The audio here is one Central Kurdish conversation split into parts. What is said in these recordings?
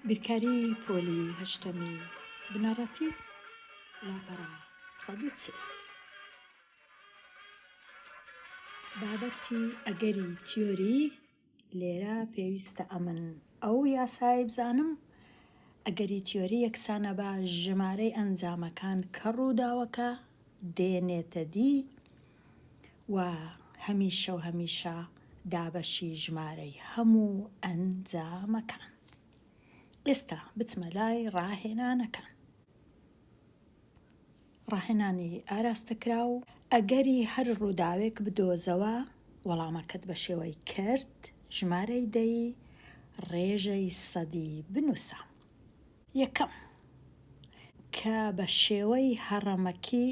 بیرکاری پۆلی هەشتەمی بنەڕەتی لاپەڕە سەد و چل. بابەتی ئەگەری تیۆری، لێرە پێویستە ئەمن ئەو یاسایەی بزانم ئەگەری تیۆری یەکسانە بە ژمارەی ئەنجامەکان کە ڕووداوەکە دێنێتە دی و هەمیشە و هەمیشە دابەشی ژمارەی هەموو ئەنجامەکان. ئێستا بچمە لای ڕاهێنانەکان. ڕاهێنانی ئاراستەکراو ئەگەری هەر ڕووداوێک بدۆزەوە وەڵامەکەت بە شێوەی کەرت، ژمارەی دەی، ڕێژەی سەدی بنووسە. یەکەم، کە بە شێوەی هەڕەمەکی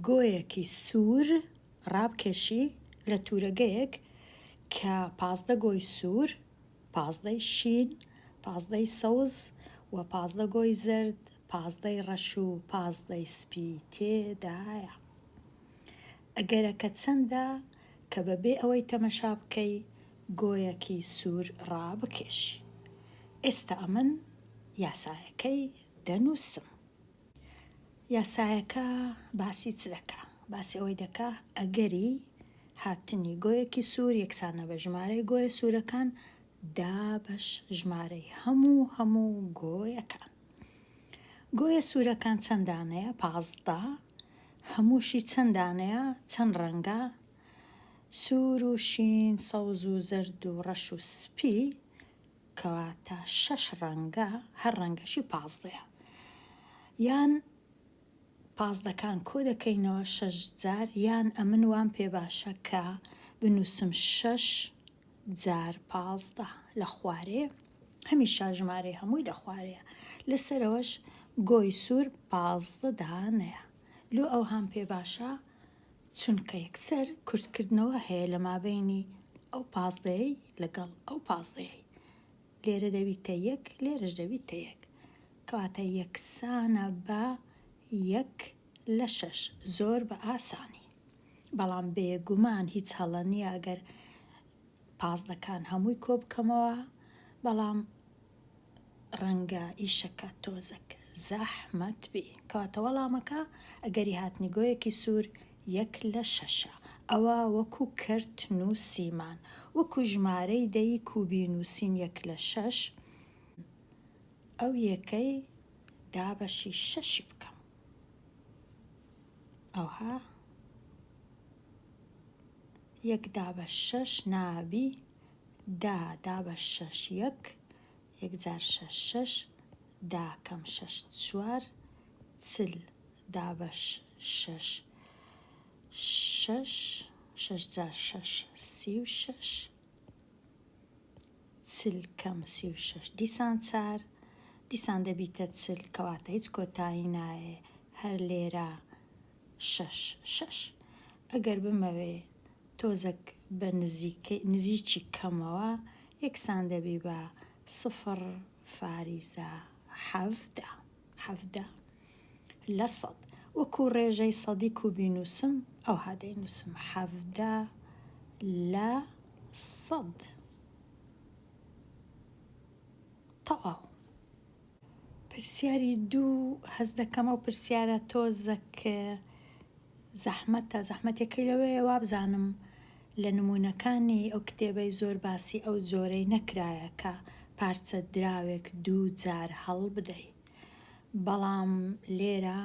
گۆیەکی سوور ڕابکێشی لە توورەگەیەک کە پازدە گۆی سوور، پازدەی شین، پازدەی سەوز و پازدە گۆی زەرد، پازدەی ڕەش و پازدەی سپی تێدایە. ئەگەرەکە چەندە کە بەبێ ئەوەی تەمەشا بکەی گۆیەکی سوور ڕابکێشی. ئێستا ئەمن یاسایەکەی دەنووسم. یاسایەکە باسی چ دەکا؟ باسی ئەوەی دەکا ئەگەری هاتنی گۆیەکی سوور یەکسانە بە ژمارەی گۆیە سوورەکان دابەش ژمارەی هەموو هەموو گۆیەکان. گۆیە سوورەکان چەند دانەیە؟ پازدە. هەمووشی چەند دانەیە؟ چەند ڕەنگە؟ سوور و شین، سەوز و زەرد و ڕەش و سپی، کەواتە شەش ڕەنگە، هەر ڕەنگەشی پازدەیە. یان پازدەکان کۆ دەکەینەوە شەش جار، یان ئەمن وام پێ باشە کە بنووسم شەش جار پازدە لە خوارێ، هەمیشە ژمارەی هەمووی لە خوارێیە. لە سەرەوەش گۆی سوور پازدە دانەیە. لۆ ئەوهام پێ باشە؟ چونکە یەکسەر کورتکردنەوە هەیە لە مابەینی ئەو پازدەیەی لەگەڵ ئەو پازدەیەی. لێرە دەبیتە یەک لێرەش دەبیتە یەک. کەواتە یەکسانە بە یەک لە شەش. زۆر بە ئاسانی. بەڵام بێگومان هیچ هەڵە نییە ئەگەر پازدەکان هەمووی کۆبکەمەوە، بەڵام. ڕەنگە ئیشەکە تۆزەک زەحمەت بی. کەواتە وەڵامەکە ئەگەری هاتنی گۆیەکی سوور یەک لە شەشە. ئەوا وەکو کەرت نووسیمان. وەکو ژمارەی دەی کوبی نووسین یەک لە شەش ئەو یەکەی دابەشی شەشی بکەم ئەوها یەک دابەش شەش نابی دا دا بە شەش یەک یەک جار شەش شەش دا کەم شەش چوار چل دا بەش شەش شەش شەش جار شەش سی و شەش چل کەم سی و شەش دیسان چار دیسان دەبیتە چل کەواتە هیچ کۆتایی نایێ هەر لێرە شەش شەش ئەگەر بمەوێ تۆزەک بە نزیکەی نزیکی کەمەوە یەکسان دەبی بە سفر فاریزە حەڤدە حەڤدە لە سەد وەکو ڕێژەی سەدی کو بینوسم ئەوها دەینوسم حەڤدە لە سەد تەواو. پرسیاری دوو هەست دەکەم ئەو پرسیارە تۆزەک زەحمەتە زەحمەتەکەی لەوەیە وابزانم لە نموونەکانی ئەو کتێبەی زۆر باسی ئەو جۆرەی نەکرایە کە پارچە دراوێک دوو جار هەڵبدەی بەڵام لێرە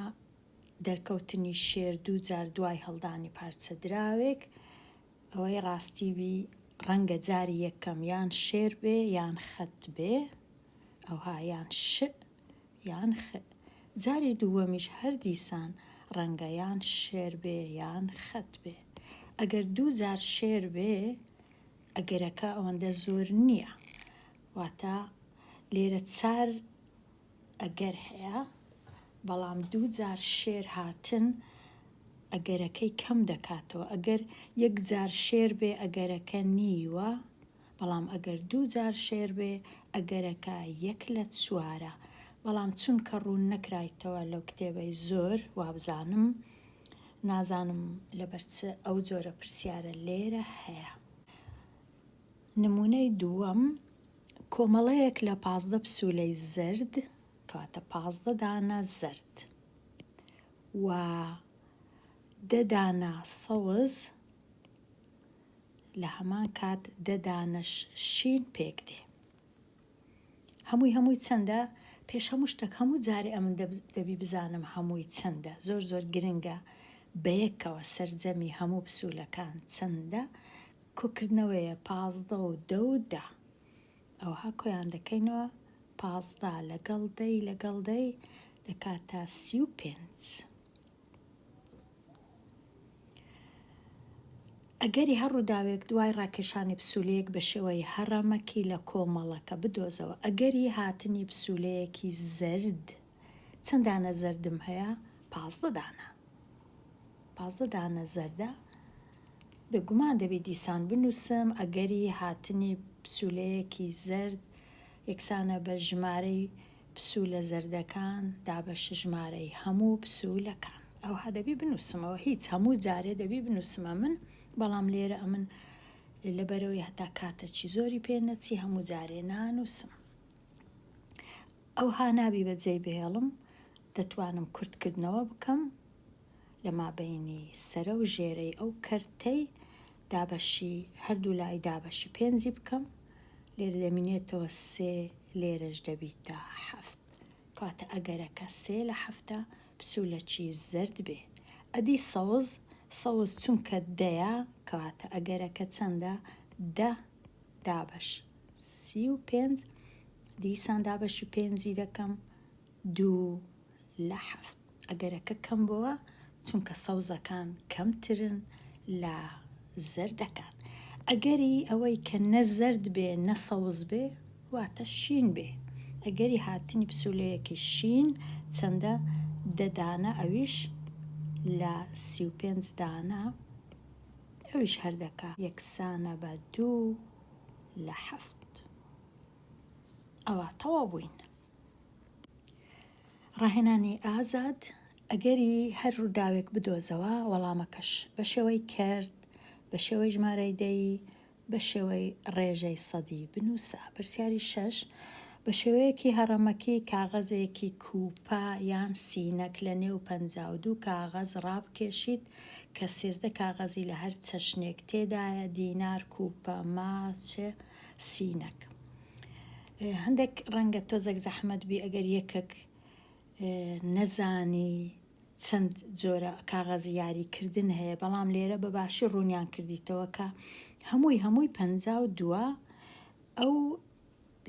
دەرکەوتنی شێر دوو جار دوای هەڵدانی پارچە دراوێک ئەوەی ڕاستی بی ڕەنگە جاری یەک کەم یان شێر بێ یان خەت بێ ئەوها یان شئ یان خئ جاری دووەمیش هەر دیسان ڕەنگە یان شێر بێ یان خەت بێ ئەگەر دوو جار شێر بێ ئەگەرەکە ئەوەندە زۆر نیە واتا لێرە چار ئەگەر هەیە بەڵام دوو جار شێر هاتن ئەگەرەکەی کەم دەکاتەوە ئەگەر یەک جار شێر بێ ئەگەرەکە نیوە بەڵام ئەگەر دوو جار شێر بێ ئەگەرەکە یەک لە چوارە بەڵام چونکە ڕوون نەکرایتەوە لەو کتێبەی زۆر وابزانم نازانم لەبەر چ ئەو جۆرە پرسیارە لێرە هەیە. نموونەی دووەم، کۆمەڵەیەک لە پازدە پسوولەی زرد، کەواتە پازدە دانە زرد و دە دانە سەوز، لە هەمان کات دە دانەش شین پێک دێ. هەمووی هەمووی چەندە؟ پێش هەموو شتێک هەموو جارێ ئەمن دەبی بزانم هەمووی چەندە، زۆر زۆر گرنگە بە یەکەوە سەرجەمی هەموو پسوولەکان چەندە، کۆکردنەوەیە پازدە و دە و دە ئەوها کۆیان دەکەینەوە پازدە لەگەڵ دە ی لەگەڵ دە ی دەکاتە سی و پێنج ئەگەری هەر ڕووداوێک دوای ڕاکێشانی پسولەیەک بە شێوەی هەڕەمەکی لە کۆمەڵەکە بدۆزەوە ئەگەری هاتنی پسولەیەکی زەرد چەند دانە زەردم هەیە پازدە دانە پازدە دانە زەردە بە گومان دەبێت دیسان بنووسم ئەگەری هاتنی پسولەیەکی زرد یەکسانە بە ژمارەی پسولە زەردەکان دابەش ژمارەی هەموو پسولەکان ئەوها دەبی بنووسمەوە هیچ هەموو جارێ دەبی بنووسمە من بەڵام لێرە ئەمن لەبەرەوەی هەتا کاتە چی زۆری پێ نەچی هەموو جارێ نانووسم ئەوها نابی بە جێی بهێڵم دەتوانم کورت کردنەوە بکەم لە مابەینی سەرە و ژێرەی ئەو کەرتەی دابەشی هەردوو لای دابەشی پێنجی بکەم لێرە دەمینێتەوە سێ لێرەش دەبیتە حەفت کاتە ئەگەرەکە سێ لە حەفتە پسولەچی زرد بێ ئەدی سەوز سەوز چونکە دەیە کاتە ئەگەرەکە چەندە دە دابەش سی و پێنج دیسان دابەشی پێنجی دەکەم دوو لە حەفت ئەگەرەکە کەم بووە چونکە سەوزەکان کەمترن لە زەردەکان ئەگەری ئەوەی کە نە زەرد بێ نە سەوز بێ واتە شین بێ ئەگەری هاتنی پسولەیەکی شین چەندە دە دانە ئەویش لە سی و پێنج دانە ئەویش هەردەکە یەکسانە بە دوو لە حەفت ئەوا تەواو بووین. ڕاهێنانی ئازاد ئەگەری هەر ڕووداوێک بدۆزەوە وەڵامەکەش بە شێوەی کەرت بە شێوەی ژمارەی دەی بە شێوەی ڕێژەی سەدی بنووسە پرسیاری شەش بە شێوەیەکی هەڕەمەکی کاغەزێکی کووپە یان سینەک لە نێو پەنجا و دوو کاغەز ڕابکێشیت کە سێزدە کاغەزی لە هەر چەشنێک تێدایە، دینار، کوپە، ما، چ، سینەک. هەندێک ڕەنگە تۆزەک زەحمەت بی ئەگەر یەکەک نەزانی چەند جۆرە کاغەزی یاری کردن هەیە، بەڵام لێرە بە باشی ڕوونیان کردیتەوە کە هەمووی هەمووی پەنجا و دووە ئەو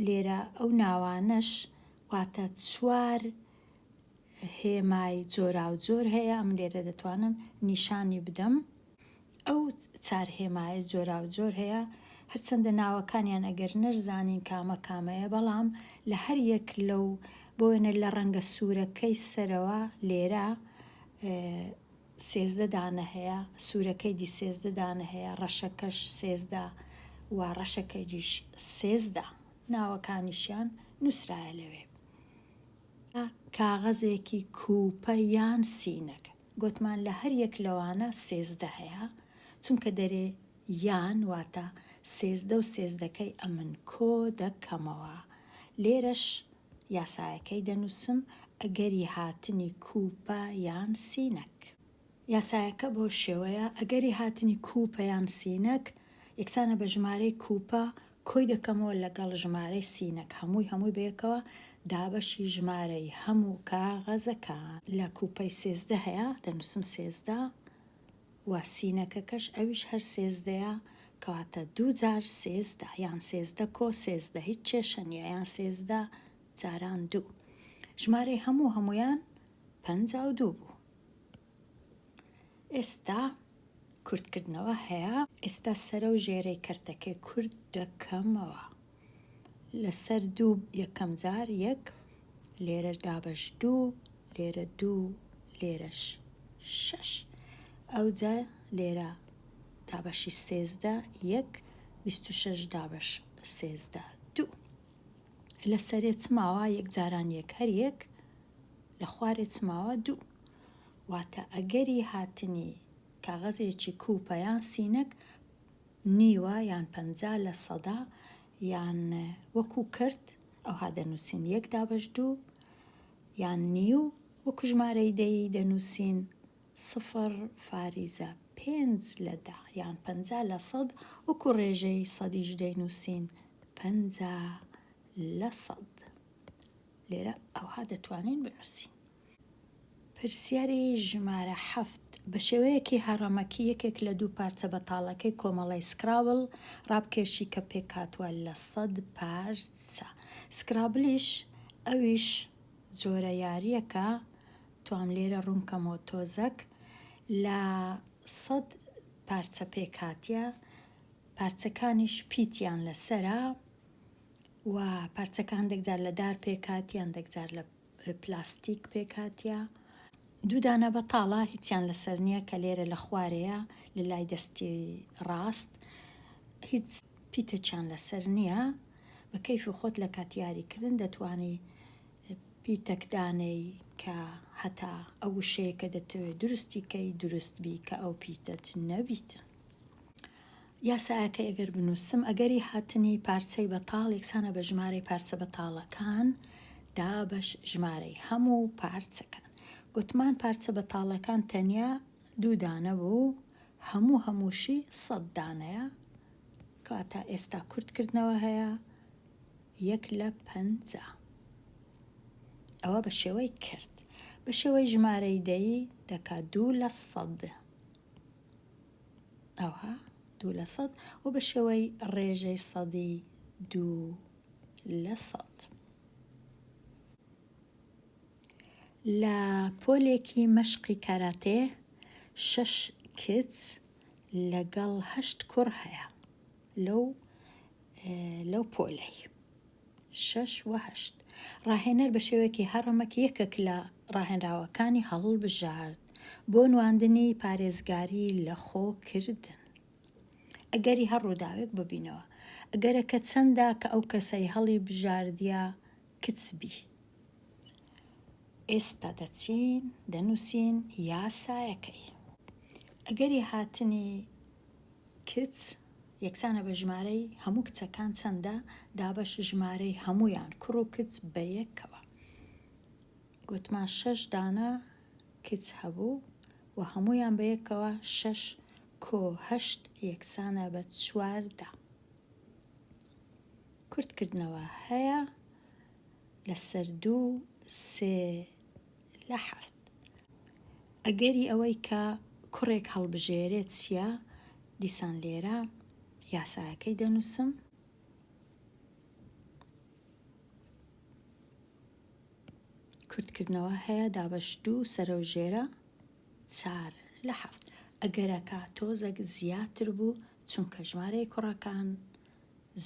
لێرە ئەو ناوانەش واتە چوار هێمای جۆراوجۆر هەیە ئەم لێرە دەتوانم نیشانی بدەم ئەو چار هێمایە جۆراوجۆر هەیە هەرچەندە ناوەکانیان ئەگەر نەرزانین کامە کامەیە بەڵام لە هەر یەک لەو بۆێنە لە ڕەنگە سوورەکەی سەرەوە لێرە سێزدەدانە هەیە سوورەکەی دی سێزدەدانە هەیە ڕەشەکەش سێزدا و ڕەشەکەی دیش سێزدا ناوەکانیشیان نووسراە لەوێ کاغەزێکی کوپە یان سینەک گۆتمان لە هەر یەک لەوانە سێزدە هەیە چونکە دەرێ یان واتە سێزدە و سێزدەکەی ئەمن کۆ دەکەمەوە لێرەش یاسایەکەی دەنوسم ئەگەری هاتنی کوپە یان سینەک. یاسایەکە بەو شێوەیە، ئەگەری هاتنی کوپە یان سینەک یەکسانە بە ژمارەی کوپە، کۆی دەکەمەوە لەگەڵ ژمارەی سینەک، هەمووی هەمووی بەیەکەوە، دابەشی ژمارەی هەموو کاغەزەکان. لە کوپەی سێزدە هەیە، دەنووسم سێزدە و سینەکەکەش ئەویش هەر سێزدەیە، کەواتە دوو جار سێزدە، یان سێزدە کۆ سێزدە، هیچ کێشە نییە، یان سێزدە جاران دوو. ژمارەی هەموو هەموویان پەنجا و دوو بوو ئێستا کورتکردنەوە هەیە. ئێستا سەرە و ژێرەی کەرتەکەی کورت دەکەمەوە لەسەر دوو یەکەم جار یەک لێرەش دابەش دوو لێرە دوو لێرەش شەش ئەوجا لێرە دابەشی سێزدە یەک بیست و شەش دابەش سێزدە دوو لە سەرێ چ ماوە یەک جاران یەک هەر یەک لە خوارێ چ ماوە؟ دوو. واتە ئەگەری هاتنی کاغەزێکی کووپە یان سینەک نیوە یان پەنجا لە سەدا یان وەکوو کرد ئەوها دەنووسین یەک دابەش دوو یان نیو وەکوو ژمارەی دەیی دەنووسین سفر فاریزە پێنج لە دە یان پەنجا لە سەد وەکوو ڕێژەی سەدیش دەینووسین پەنجا لە سەد. لێرە ئەوها دەتوانین بنووسین. پرسیاری ژمارە حەفت، بە شێوەیەکی هەڕەمەکی یەکێک لە دوو پارچە بەتاڵەکەی کۆمەڵەی سکرابڵ ڕابکێشی کە پێکهاتووە لە سەد پارچە. سکرابڵیش ئەویش جۆرە یارییەکە، توام لێرە ڕوون کەمەوە تۆزەک، لە سەد پارچە پێکهاتییە، پارچەکانیش پیتیان لەسەرە، و پارچەکان دەک جار لە دار پێکهاتیان دەک جار لە پلاستیک پێکهاتیە دوو دانە بەتاڵە هیچیان لەسەر نییە کە لێرە لە خوارەیە لە لای دەستی ڕاست هیچ پیتەچیان لەسەر نییە بە کەیفی خۆت لە کات یاری کردن دەتوانی پیتەک دانەی کە هەتا ئەو وشەیە کە دەتەوێت دروستی کەی دروست بی کە ئەو پیتەت نەبیتن یاسایەکەی ئەگەر بنووسم ئەگەری هاتنی پارچەی بەتاڵ یەکسانە بە ژمارەی پارچە بەتاڵەکان دابەش ژمارەی هەموو پارچەکان گوتمان پارچە بەتاڵەکان تەنیا دوو دانە بوو هەموو هەمووشی سەد دانەیە کەواتە ئێستا کورتکردنەوە هەیە یەک لە پەنجا ئەوە بە شێوەی کرد بە شێوەی ژمارەی دەی دەکات دوو لە سەد ئەوا دوو لە سەد و بە شێوەی ڕێژەی سەدی دوو لە سەد. لە پۆلێکی مەشقی کاراتێ شەش کچ لەگەڵ هەشت کوڕ هەیە لەو لەو پۆلەی. شەش و هەشت. ڕاهێنەر بە شێوەیەکی هەڕەمەکی یەکێک لە ڕاهێنراوەکانی هەڵبژارد بۆ نواندنی پارێزگاری لەخۆ کردن. ئەگەری هەر ڕووداوێک ببینەوە. ئەگەرەکە چەندە کە ئەو کەسەی هەڵی بژاردیە کچ بی. ئێستا دەچین دەنووسین یاسایەکەی. ئەگەری هاتنی کچ. یەکسانە بە ژمارەی هەموو کچەکان چەندە دابەش ژمارەی هەموویان کوڕ و کچ بە یەکەوە گوتمان شەش دانە کچ هەبوو و هەموویان بە یەکەوە شەش کۆ هەشت یەکسانە بە چواردا کورتکردنەوە هەیە لەسەر دوو سێ لە حەفت. ئەگەری ئەوەی کە کوڕێک هەڵبژێرێت چییە؟ دیسان لێرە یاسایەکەی دەنووسم. کورتکردنەوە هەیە دابەش دوو سەرەو ژێرە چار لە حەفت. ئەگەرەکە تۆزەک زیاتر بوو چونکە ژمارەی کوڕەکان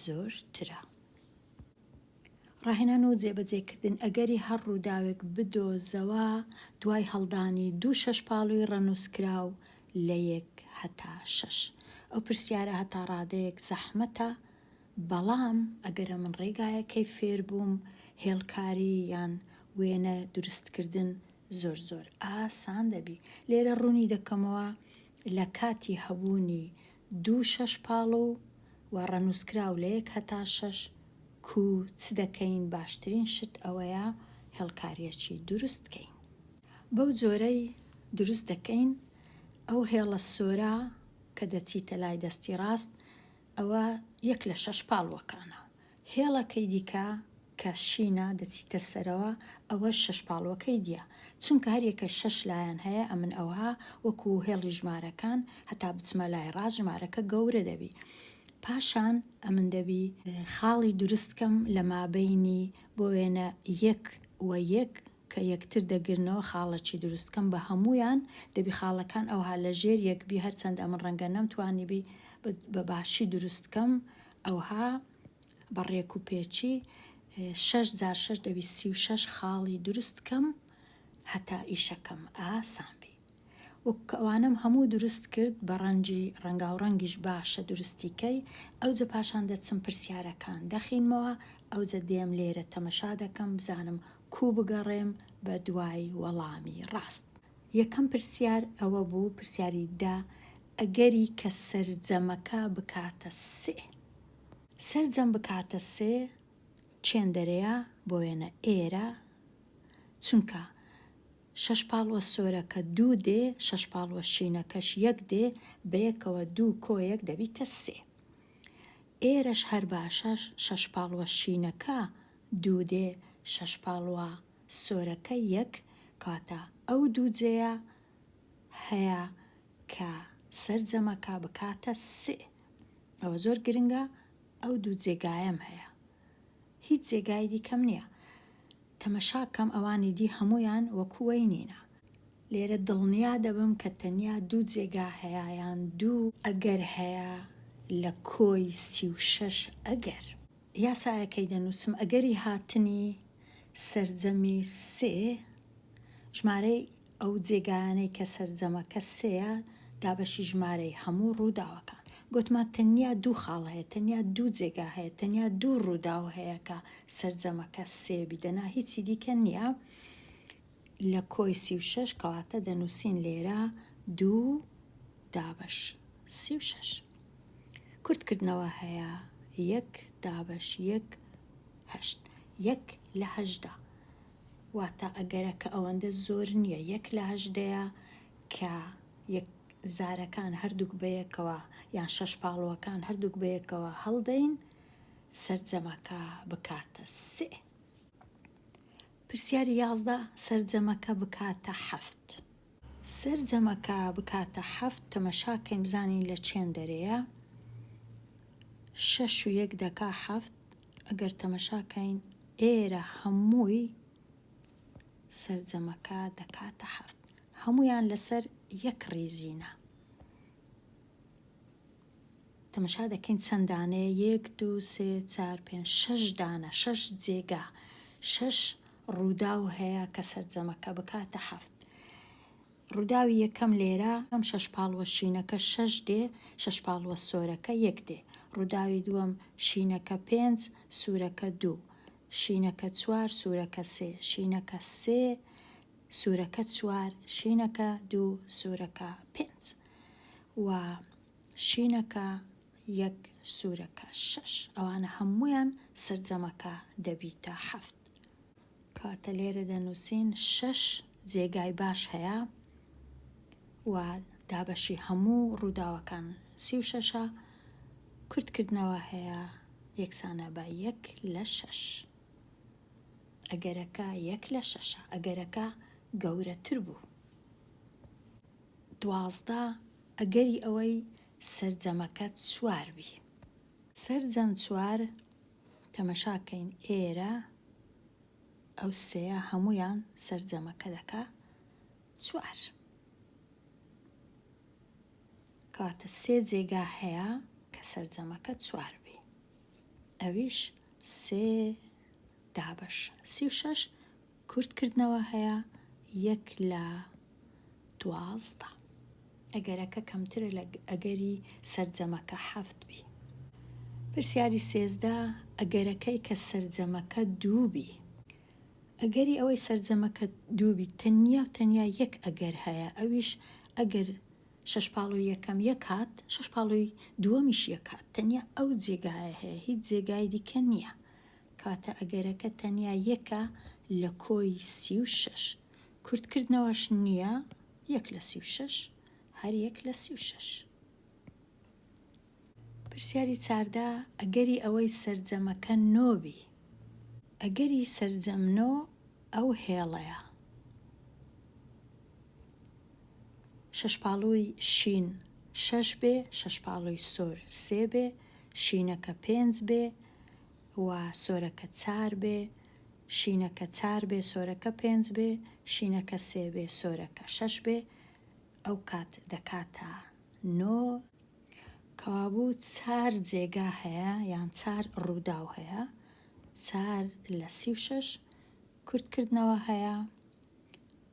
زۆر ترە. ڕاهێنان و جێبەجێکردن ئەگەری هەر ڕووداوێک بدۆزەوە دوای هەڵدانی دوو شەشپاڵووی ڕەنووسکراو لە یەک هەتا شەش. ئەو پرسیارە هەتا ڕادەیەک زەحمەتە، بەڵام ئەگەرە من ڕێگایەکەی فێربووم، هێڵکاری یان وێنە دروستکردن زۆر زۆر ئاسان دەبی. لێرە ڕوونی دەکەمەوە لە کاتی هەبوونی دوو شەش پاڵو و ڕەنووسکراو لە یەک هەتا شەش کو چ دەکەین باشترین شت ئەوەیە هێڵکاریەکی دروست کەین بەو جۆرەی دروست دەکەین ئەو هێڵە سۆرە کە دەچیتە لای دەستی ڕاست ئەوە یەک لە شەش پاڵوەکانە هێڵەکەی دیکە کە شینە دەچیتە سەرەوە ئەوەش شەش پاڵوەکەی دیە چونکە هەر یەکەش شەش لایەن هەیە ئەمن ئەوها وەکو هێڵی ژمارەکان هەتا بچمە لای ڕاست ژمارەکە گەورە دەبی پاشان ئەمن دەبی خاڵی دروست کەم لە مابەینی بۆ وێنە یەک و یەک کە یەکتر دەگرنەوە خاڵەکی دروست کەم بە هەموویان دەبی خاڵەکان ئەوها لە ژێر یەک بی هەرچەندە ئەمن ڕەنگە نەمتوانیبی بە باشی دروست کەم ئەوها بە ڕێک و پێچی شەش جار شەش دەبی سی و شەش خاڵی دروست کەم هەتا ئیشەکەم ئاسان بی وەک ئەوانەم هەموو دروست کرد بە ڕەنجی ڕەنگاو ڕەنگیش باشە دروستیکەی ئەوجە پاشان دەچم پرسیارەکان دەخینمەوە ئەوجە دێم لێرە تەمەشا دەکەم بزانم کوو بگەڕێم بە دوای وەڵامی ڕاست. یەکەم پرسیار ئەوە بوو، پرسیاری دە، ئەگەری کە سەرجەمەکە بکاتە سێ. سەرجەم بکاتە سێ چێندەرەیە، بۆ وێنە ئێرە چونکە شەش پاڵوە سۆرەکە دوو دێ، شەش پاڵوە شینەکەش یەک دێ، بەیەکەوە دوو کۆ یەک دەبیتە سێ. ئێرەش هەر باشە شەش پاڵوە شینەکە دوو دێ، شەش پاڵوە. سۆرەکە یەک کاتە ئەو دوو جێیە هەیە کە سەرجەمەکە بکاتە سێ ئەوە زۆر گرنگە ئەو دوو جێگایەم هەیە هیچ جێگای دیکەم نیە تەمەشاکەم ئەوانی دی هەموویان وەکو وەی نینە لێرە دڵنیا دەبم کە تەنیا دوو جێگا هەیە یان دوو ئەگەر هەیە لە کۆی سی و شەش ئەگەر. یاسایەکەی دەنووسم ئەگەری هاتنی سەرجەمی سێ، ژمارەی ئەو جێگایانەی کە سەرجەمەکە سێیە، دابەشی ژمارەی هەموو ڕووداوەکان. گوتمان تەنیا دوو خاڵ هەیە، تەنیا دوو جێگا هەیە، تەنیا دوو ڕووداو هەیە کە سەرجەمەکە سێ بی، دەنا هیچی دیکە نییە. لە کۆی سی و شەش کەواتە دەنووسین لێرە دوو دابەش سی و شەش کورتکردنەوە هەیە یەک دابەش یەک هەشت یەک لە هەشدا واتە ئەگەرەکە ئەوەندە زۆر نییە یەک لە هەشدەیە کە یەک زارەکان هەردووک بەیەکەوە یان شەش پاڵوەکان هەردووک بەیەکەوە هەڵدەین سەرجەمەکە بکاتە سێ پرسیاری یازدە سەرجەمەکە بکاتە حەفت. سەرجەمەکە بکاتە حەفت تەمەشا کەین بزانین لە چێن دەرێیە شەش و یەک دەکا حەفت ئەگەر تەمەشا کەین ئێرە هەمووی سەرجەمەکە دەکاتە حەفت هەموویان لەسەر یەک ڕیزینە. تەمەشا دەکەین چەند دانەیە یەک دوو سێ چار پێنج شەش دانە شەش جێگا شەش ڕووداو هەیە کە سەرجەمەکە بکاتە حەفت ڕووداوی یەکەم لێرە ئەم شەش پاڵوە شینەکە شەش دێ شەش پاڵوە سۆرەکە یەک دێ ڕووداوی دووەم شینەکە پێنج سوورەکە دوو شینەکە چوار سوورەکە سێ شینەکە سێ سوورەکە چوار شینەکە دوو سوورەکە پێنج و شینەکە یەک سورەکە شەش ئەوانە هەموویان سەرجەمەکە دەبیتە حەفت کاتە لێرە دەنووسین شەش جێگای باش هەیە و دابەشی هەموو ڕووداوەکان سی و شەشە کورتکردنەوە هەیە یەکسانە بە یەک لە شەش ئەگەرەکە یەک لە شەشە ئەگەرەکە گەورەتر بوو دوازدە، ئەگەری ئەوەی سەرجەمەکە چوار بی. سەرجەم چوار، تەمەشا کەین ئێرە ئەو سێیە هەموویان سەرجەمەکە دەکا چوار. کەواتە سێ جێگا هەیە کە سەرجەمەکە چوار بی. ئەویش سێ دابەش سی و شەش کورت کردنەوە هەیە یەک لە دوازدە. ئەگەرەکە کەمترە لە ئەگەری سەرجەمەکە حەفت بی. پرسیاری سێزدە، ئەگەرەکەی کە سەرجەمەکە دوو بی. ئەگەری ئەوەی سەرجەمەکە دوو بیت تەنیا و تەنیا یەک ئەگەر هەیە ئەویش ئەگەر شەش پاڵوی یەکەم یەک هات شەش پاڵوی دووەمیش یەک هات تەنیا ئەو جێگایە هەیە هیچ جێگای دیکە نیە کاتە ئەگەرەکە تەنیا یەکە لە کۆی سی و شەش. کورتکردنەوەش نییە، یەک لە سی و شەش، هەر یەک لە سی و شەش. پرسیاری چاردە، ئەگەری ئەوەی سەرجەمەکە نۆ بی. ئەگەری سەرجەم نۆ ئەو هێڵەیە. شەشپاڵووی شین شەش بێ، شەشپاڵووی سۆر سێ بێ، شینەکە پێنج بێ، و سۆرەکە چار بێ، شینەکە چار بێ سۆرەکە پێنج بێ، شینەکە سێ بێ سۆرەکە شەش بێ، ئەوکات دەکاتە نۆ. کەوابوو چار جێگا هەیە یان چار ڕووداو هەیە، چار لە سی و شەش کورتکردنەوە هەیە،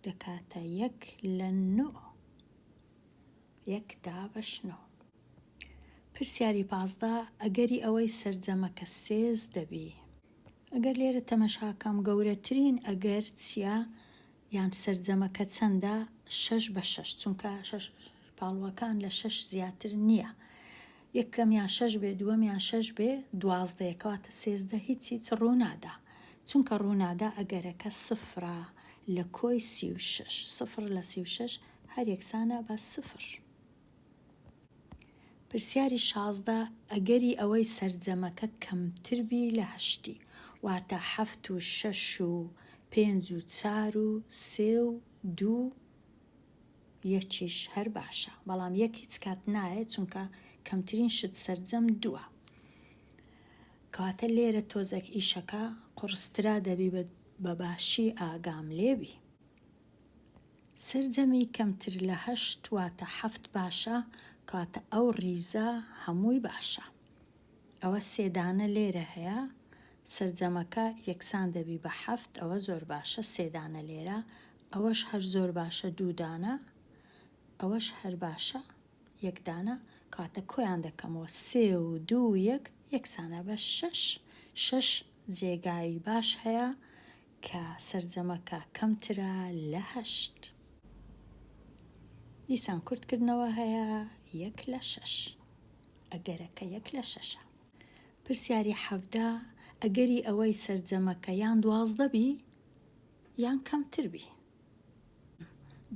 دەکاتە یەک لە نۆ، یەک دابەش نۆ. پرسیاری پازدە، ئەگەری ئەوەی سەرجەمەکە سێز دەبی. ئەگەر لێرە تەمەشا کەم گەورەترین ئەگەر چیە یان سەرجەمەکە چەندە شەش بە شەش چونکە شەش پاڵوەکان لە شەش زیاتر نییە یەکەمیان شەش بێ دووەمیان شەش بێ دوازدەیە کەواتە سێزدە هیچ هیچ ڕوونادا چونکە ڕوونادا ئەگەرەکە سفرە لە کۆی سی و شەش سفر لە سی و شەش هەر یەکسانە بە سفر. پرسیاری شازدە، ئەگەری ئەوەی سەرجەمەکە کەمتر بی لە هەشتی، واتە حەفت و شەش و پێنج و چار و سێ و دوو و یەکیش هەر باشە، بەڵام یەک هیچ کات نایەت چونکە کەمترین شت سەرجەم دووە. کەواتە لێرە تۆزێک ئیشەکە قوڕسترا دەبی بە باشی ئاگام لێبی. سەرجەمی کەمتر لە هەشت واتە حەفت باشە کەواتە ئەو ڕیزە هەمووی باشە ئەوە سێ دانە لێرە هەیە سەرجەمەکە یەکسان دەبی بە حەفت ئەوە زۆر باشە سێ دانە لێرە ئەوەش هەر زۆر باشە دوو دانە ئەوەش هەر باشە یەک دانە کەواتە کۆیان دەکەمەوە سێ و دوو یەک یەکسانە بە شەش شەش جێگای باش هەیە کە سەرجەمەکە کەمترە لە هەشت. دیسان کورتکردنەوە هەیە یەک لە شەش. ئەگەرەکە یەک لە شەشە. پرسیاری حەڤدە، ئەگەری ئەوەی سەرجەمەکە یان دوازدە بی یان کەمتر بی.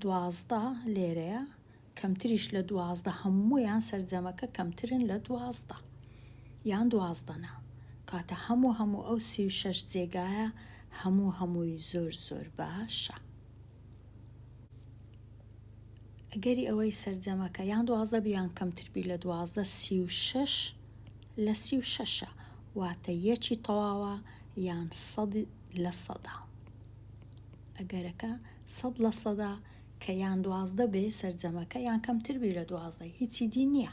دوازدە لێرەیە کەمتریش لە دوازدە هەموویان سەرجەمەکە کەمترن لە دوازدە یان دوازدە نا کاتە هەموو هەموو ئەو سی و شەش جێگایە هەموو هەمووی زۆر زۆر باشە ئەگەری ئەوەی سەرجەمەکە یان دوازدە بیان کەمتربی لە دوازدە سی و شەش لە سی و شەشە واتە یەکی تەواوە یان سەد لە سەدا ئەگەرەکە سەد لە سەدا کە یان دوازدە بێ سەرجەمەکە یان کەمتر بی لە دوازدە هیچی دی نیە.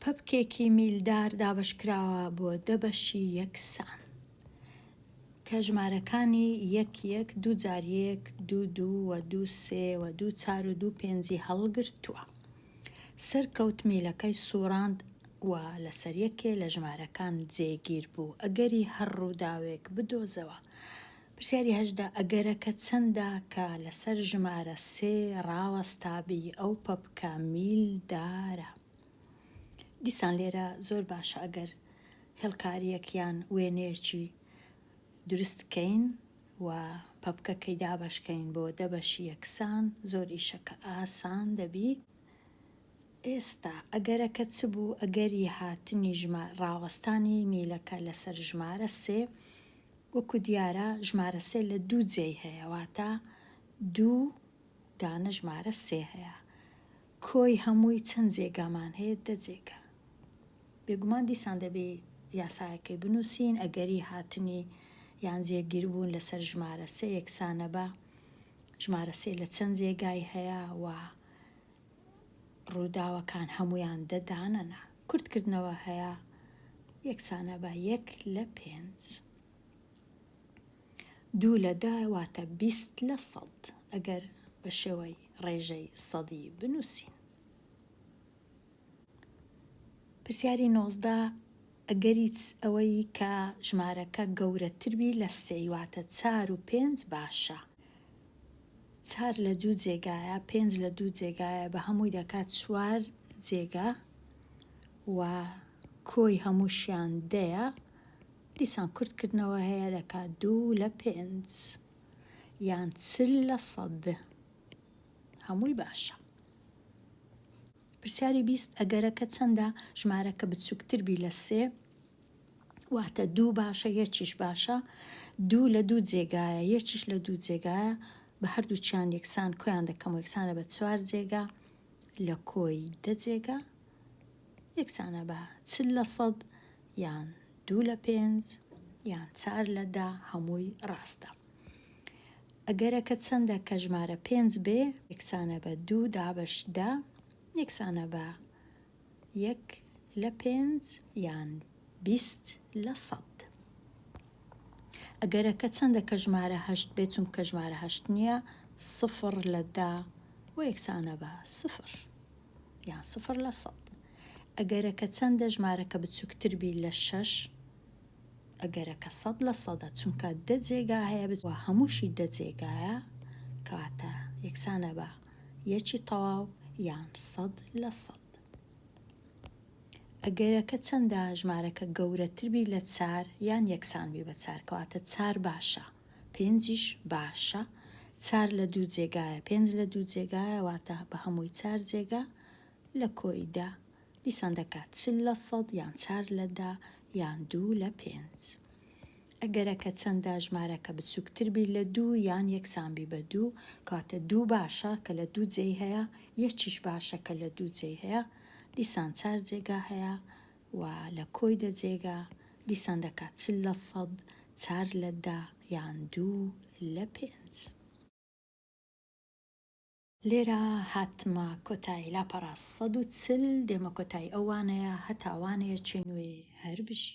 پەپکێکی میلدار دابەشکراوە بۆ دە بەشی یەکسان کە ژمارەکانی یەک یەک دوو جار یەک دوو دوو و دوو سێ و دوو چار و دوو پێنجی هەڵگرتووە. سەرکەوت میلەکەی سووڕاند و لەسەر یەکێ لە ژمارەکان جێگیر بوو. ئەگەری هەر ڕووداوێک بدۆزەوە. پرسیاری هەژدە، ئەگەرەکە چەندە کە لەسەر ژمارە سێ ڕاوەستابی ئەو پەپکە میلدارە؟ دیسان لێرە زۆر باشە ئەگەر هێڵکارییەک یان وێنەیەکی دروست کەین و پەپکەکەی دابەشکەین بۆ دە بەشی یەکسان زۆر ئیشەکە ئاسان دەبی ئێستا ئەگەرەکە چ بوو ئەگەری هاتنی ژما ڕاوەستانی میلەکە لەسەر ژمارە سێ وەکو دیارە ژمارە سێ لە دوو جێی هەیە واتا دوو دانە ژمارە سێ هەیە کۆی هەمووی چەند جێگامان هەیە؟ دە جێگا. بێگومان دیسان دەبێ یاسایەکەی بنووسین، ئەگەری هاتنی یان جێگیربوون لەسەر ژمارە سێ یەکسانە بە ژمارە سێ لە چەند جێگای هەیە و ڕووداوەکان هەموویان دە دانە نا. کورتکردنەوە هەیە یەکسانە بە یەک لە پێنج. دوو لە دە واتە بیست لە سەد ئەگەر بە شێوەی ڕێژەی سەدی بنووسین. پرسیاری نۆزدە، ئەگەری ئەوەی کە ژمارەکە گەورەتر بی لە سێی واتە چار و پێنج باشە. چار لە دوو جێگایە، پێنج لە دوو جێگایە بە هەمووی دەکات چوار جێگا و کۆی هەمووشیان دەیە. دیسان کورت کردنەوە هەیە دەکا دوو لە پێنج یان چل لە سەد هەمووی باشە پرسیاری بیست ئەگەرەکە چەندە ژمارەکە بچووکتر بی لە سێ واتە دوو باشە یەکیش باشە دوو لە دوو جێگایە یەکیش لە دوو جێگایە بە هەردووچیان یەکسان کۆیان دەکەم و یەکسانە بە چوار جێگا لە کۆی دە جێگا یەکسانە بە چل لە سەد یان دوو لە پێنج یان چار لە دە هەمووی ڕاستە. ئەگەرەکە چەندە کە ژمارە پێنج بێ یەکسانە بە دوو دابەش دە یەکسانە بە یەک لە پێنج یان بیست لە سەد. ئەگەرەکە چەندە کە ژمارە هەشت بێ چونکە ژمارە هەشت نییە سفر لە دە و یەکسانە بە سفر. یان سفر لە سەد. ئەگەرەکە چەندە ژمارەکە بچوکتر بی لە شەش؟ ئەگەرەکە سەد لە سەدە چونکە دە جێگا هەیە بچ وە هەمووشی دە جێگایە کەواتە یەکسانە بە یەکی تەواو یان سەد لە سەد. ئەگەرەکە چەندە ژمارەکە گەورەتر بی لە چار یان یەکسان بی بە چار کەواتە چار باشە. پێنجیش باشە، چار لە دوو جێگایە پێنج لە دوو جێگایە واتە بە هەمووی چار جێگا لە کۆی دە دیسان دەکات چل لە سەد یان چار لە دە یان دوو لە پێنج. ئەگەرەکە چەندە ژمارەکە بچووکتر بی لە دوو یان یەکسان بی بە دوو کاتە دوو باشە کە لە دوو جێی هەیە یەکیش باشە کە لە دوو جێی هەیە دیسان چار جێگا هەیە و لە کۆی دە جێگا دیسان دەکات چ لە سەد، چار لە دە یان دوو لە پێنج. لێرە هاتمە کۆتای لاپەڕە سەد و چل دێمە کۆتای ئەو وانەیە هەتا وانەیەکی نوێ هەر بژی.